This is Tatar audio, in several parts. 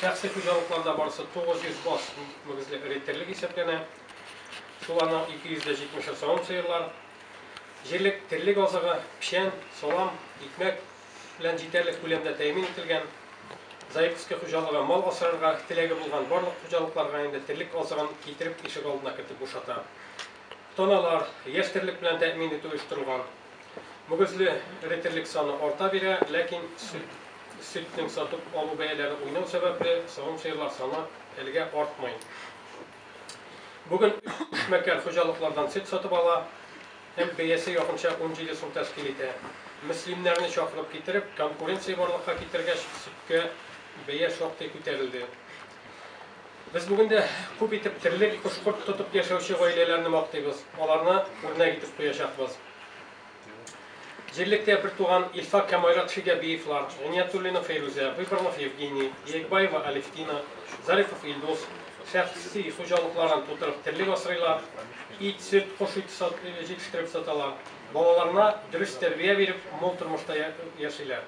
Шәхси хуҗалыкларда барысы 900 аз мөгезле эре терлек исәпләнә. Шул аның 270-ы савым сыерлар. Җирлек терлек азыгы, печән, салам, икмәк, белән җитәрлек күләмдә тәэмин ителгән. Заиковский хуҗалыгы мал асрарга теләге булган барлык хуҗалыкларга инде терлек азыгын китереп ишегалдына кертеп бушата. Таналар, яшь терлек белән тәэмин итү оештырылган. Мөгезле эре терлек саны арта бирә, ләкин сөт, сөтнең сатып алу бәяләре уйнау сәбәпле, савым сыерлар саны әлегә артмый. Бүген өч эшмәкәр хуҗалыклардан сөт сатып ала һәм бәясе якынча унҗиде сум тәшкил итә. Мөслимнәрне чакырып китереп, конкуренция барлыкка китергәч, сөткә бәя шактый күтәрелде. Без бүген дә күп итеп терлек, кош-корт тотып яшәүче гаиләләрне мактыйбыз, аларны үрнәк итеп куячакбыз. Җирлектә бертуган Илфак һәм Айрат Шигәбиевлар, Гыйниятуллина Фәйрүзә, Выборнов Евгений, Яекбаева Алевтина, Зарипов Илдус шәхси хуҗалыкларын тутырып терлек асрыйлар, ит, сөт, кош ите җитештереп саталар, балаларына дөрес тәрбия биреп, мул тормышта яшиләр.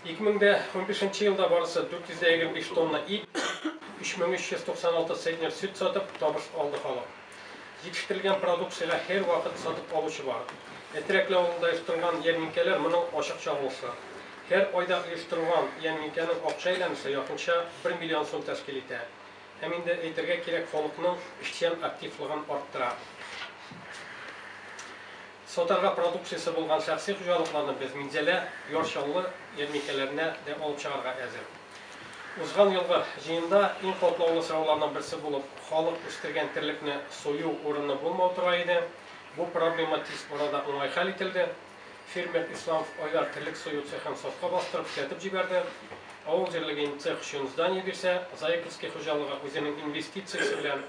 2015 нче елда барысы 455 тонна ит, 3396 центнер сөт сатып, табыш алды халык. Җитештерелгән продукциягә һәрвакыт сатып алучы бар. Әтрәкле авылында оештырылган ярминкәләр моның ачык чагылышы. Һәр айда оештырылган ярминкәнең акча әйләнеше якынча бер миллион сум тәшкил итә. Һәм инде әйтергә кирәк, халыкның эшчән активлыгын арттыра. Сатарга продукциясе булган шәхси хуҗалыкларны без Минзәлә, Яр Чаллы ярминкәләренә дә алып чыгарга әзер. Узган елгы җыенда иң катлаулы сорауларның берсе булып халык үстергән терлекне сою урыны булмау тора иде. Бу проблема тиз арада уңай хәл ителде. Фермер Исламов Айдар терлек сою цехын сафка бастырып эшләтеп җибәрде. Авыл җирлеге инде цех өчен здание бирсә, Заиковский хуҗалыгы үзенең инвестициясе белән,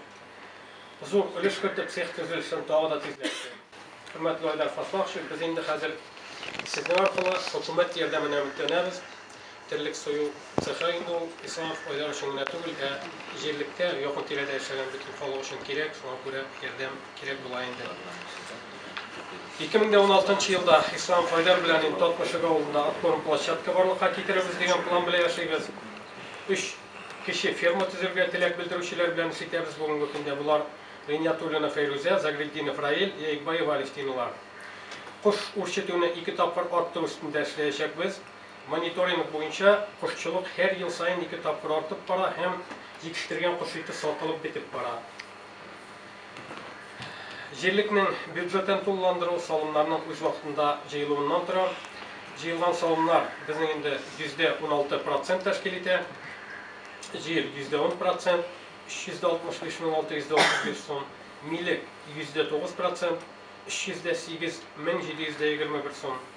Зур өлеш кертеп, цех төзелешен тагы да тизләтте. Хөрмәтле Айдар Фафахович, без инде хәзер Сезнең аркылы хөкүмәт ярдәменә өметләнәбез. Терлек сою цехы инде ул Исламов Айдар өчен генә түгел, ә җирлектә, якын-тирәдә яшәгән бөтен халык өчен кирәк, шуңа күрә ярдәм кирәк була инде. 2016 елда Исламов Айдар белән инде Татмышек авылында откорм площадка барлыкка китерербез дигән план белән яшибез. Өч Кече ферма төзергә теләк белдерүчеләр белән эш итәбез, бүгенге көндә болар, Гыйниятуллина Фәйрүзә, Загретдинов Раил, Яикбаева Алевтинала. Кош үрчетүне ике тапкыр арттыру өстендә эшләячәкбез. Мониторинг буенча, кошчылык һәр ел саен ике тапкыр артып бара һәм җитештергән кош ите сатылып бетеп бара. Җирлекнең бюджетын тулыландыру салымнарның үз вакытында җыелуыннан тора. Җыелган салымнар безнең инде йөздә уналты процент тәшкил итә. Җир, йөздә ун процент, 365 мең 635 сум, милек, йөздә тугыз процент, 308 мең 721 сум,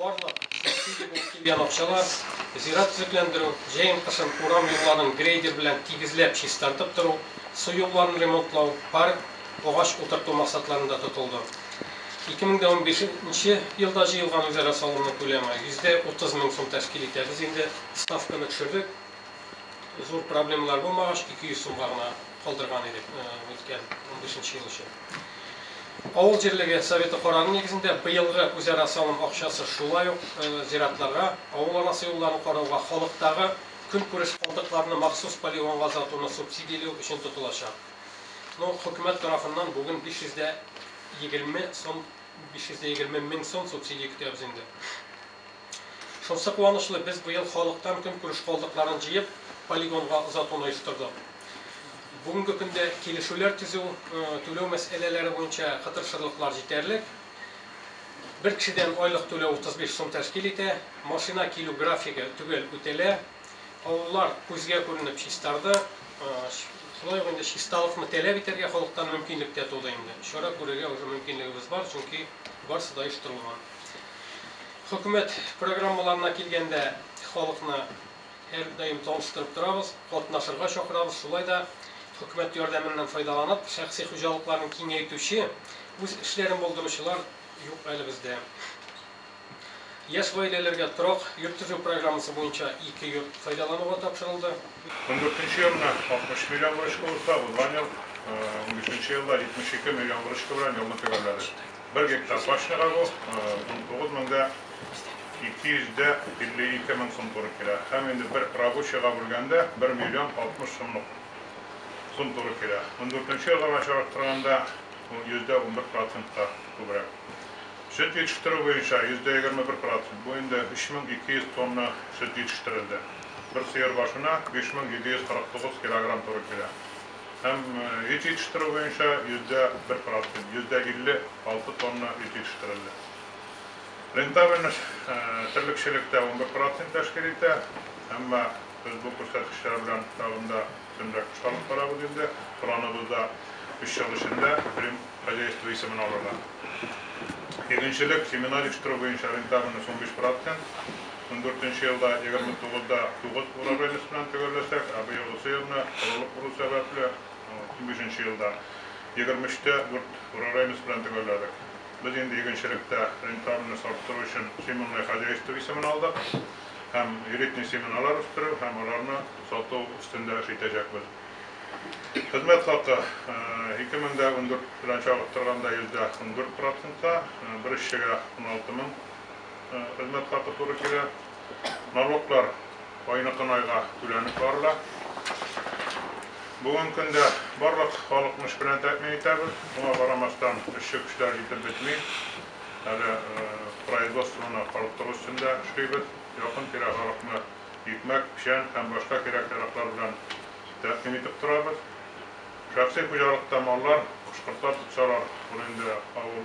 Барлык субсидия булып килгән акчалар зират төзекләндерү, җәен-кышын урам юлларын грейдер белән тигезләп чистартып тору, су юлларын ремонтлау, парк, агач утырту максатларында тотылды. 2015 нче елда җыелган үзара салымның күләме 130 мең сум тәшкил итә. Без инде ставканы төшердек. Зур проблемалар булмагач, 200 сумга гына калдырган идек үткән 15 нче ел өчен. Авыл җирлеге Советы карары нигезендә быелгы үзара салым акчасы шулай ук зиратларга, авыл арасы юлларын карауга, халыктагы көнкүреш калдыкларны махсус полигонга озатуны субсидияләү өчен тотылачак. Ну, хөкүмәт тарафыннан бүген 520 сум, 520 мең сум субсидия көтәбез инде. Шунсы куанычлы, без быел халыктан көнкүреш калдыкларын җыеп, полигонга озатуны оештырдык. Бүгенге көндә килешүләр төзү, түләү мәсьәләләре буенча кытыршырлыклар җитәрлек. Бер кешедән айлык түләү 35 сум тәшкил итә. Машина килү графигы төгәл үтәлә. Авыллар күзгә күренеп чистарды. Шулай ук инде чисталыкны таләп итәргә халыктан мөмкинлек тә туды инде. Чара күрергә уже мөмкинлегебез бар, чөнки барысы да оештырылган. Хөкүмәт программаларына килгәндә, халыкны һәрдаим таныстырып торабыз, катнашырга чакырабыз. Шулай да хөкүмәт ярдәменнән файдаланып, шәхси хуҗалыкларын киңәйтүче, үз эшләрен булдыручылар юк әле бездә. Яшь гаиләләргә торак йорт төзү программасы буенча ике йорт файдалануга тапшырылды. Ундүртенче елны 60 миллион выручка булса, узган ел, унбишенче елда 72 миллион выручка белән елны төгәлләдек. Бер гектар баш чыга бу, унтугыз мең дә ике йөз дә илле ике мең сум туры килә. Һәм инде бер рабочийга бүлгәндә бер миллион алтмыш сумлык сум туры килә. Ундүртенче елга белән чагыштырганда, ул йөздә унбер процентка күбрәк. Сөт җитештерү буенча йөздә егерме бер процент, бу инде өч мең ике йөз тонна сөт җитештерелде. Бер сыер башына биш мең җиде йөз кырык тугыз килограмм туры килә. Һәм өй җитештерү буенча йөздә бер процент, 156 тонна өй җитештерелде. Рентабельность терлекчелектә унбер процент тәшкил итә. Әмма без бу күрсәткечләр белән тагын да өстенрәк эш алып барабыз инде. Планыбыз да өч ел эчендә Рим хозяйство исемен алырга. Игенчелек, семена җитештерү буенча рентабельность унбиш процент. Ундүртенче елда егерме тугыз да тугыз урожайность белән төгәлләсәк, ә быел усы елны корылык уру сәбәпле, унбишенче елда егерме өч тә дүрт урожайность белән төгәлләдек. Без инде игенчелектә рентабельность арттыру өчен семенное хозяйство исемен алдык һәм элитный семеналар үстерү һәм аларны сату өстендә эш итәчәкбез. Хезмәт хакы, ике мең дә ундүрт белән чагыштырганда йөз дә ундүрт процентка, бер эшчегә уналты мең Хезмәт хакы туры килә. Налоглар айныкын айга түләнеп барыла. Бүгенге көндә барлык халыкны эш белән тәэмин итәбез. Шуңа карамастан, эшче көчләр җитеп бетми. Әле производствоны арттыру өстендә эшлибез. Якын-тирә халыкны икмәк, печән һәм башка кирәк-яраклар белән тәэмин итеп торабыз. Шәхси хуҗалыкта маллар, кош-кортлар тотсалар, ул инде авыл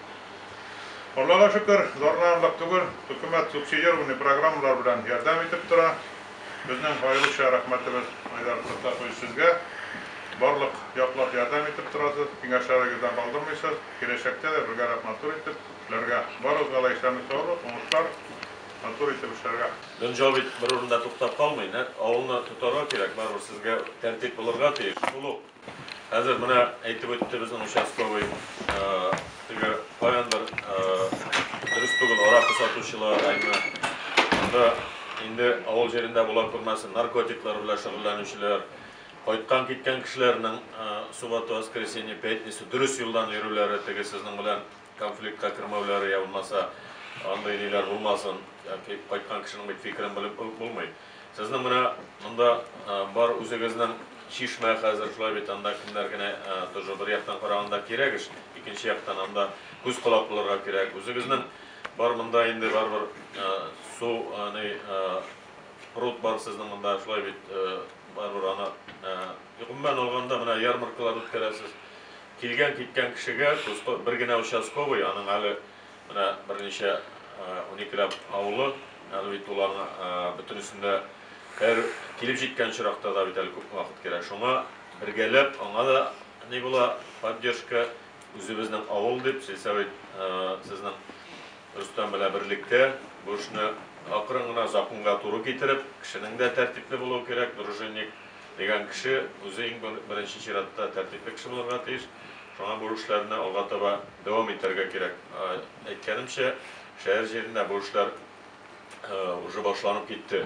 Аллага шөкер, зарланырлык түгел, хөкүмәт субсидирование программалар белән ярдәм итеп тора. Безнең аеруча рәхмәтебез Айдар Фәттахович сезгә. Барлык яклап ярдәм итеп торасыз, киңәшләрегездән калдырмыйсыз. Киләчәктә дә бергәрәп матур итеп эшләргә. Барыгызга да исәнлек саулык, уңышлар, матур итеп эшләргә. Дөнҗал бит бер урында туктап калмый, нәкъ авылны тотарга кирәк, барыбер сезгә тәртип булырга тиеш, шул ук. Хәзер менә әйтеп үтте безнең участковый, теге каяндыр дөрес түгел аракы сатучылар, әйме, анда инде авыл җирендә була күрмәсен, наркотиклар белән шөгыльләнүчеләр, кайткан киткән кешеләрнең субботу, воскресенье, пятница дөрес юлдан йөрүләре, теге сезнең белән Конфликтка кермәүләре йә булмаса андый ниләр булмасын, яки кайткан кешенең бит фикерен белеп үк булмый. Сезнең менә монда бар үзегезнең чишмә хәзер, шулай бит, анда кемнәр генә тоже бер яктан караганда кирәк эш, икенче яктан анда күз-колак булырга кирәк. Үзегезнең бар монда инде барыбер су, ни, пруд бар сезнең монда, шулай бит, барыбер аны, гомумән алганда, менә ярмаркалар үткәрәсез. Килгән-киткән кешегә тоска бер генә участковый, аның әле менә берничә, уникеләп авылы, әле бит ул аңа бөтенесендә һәр килеп җиткән очракта да бит әле күпме вакыт керә. Шуңа бергәләп аңа да ни була, поддержка, үзебезнең авыл дип, сельсовет сезнең Рөстәм белән берлектә бу эшне акрын гына, законга туры китереп, кешенең дә тәртипле булуы кирәк, дружинник. дигән кеше үзе иң беренче чиратта тәртипле кеше булырга тиеш, шуңа бу эшләрне алга таба дәвам итәргә кирәк. Әйткәнемчә, шәһәр җирендә бу эшләр уже башланып китте.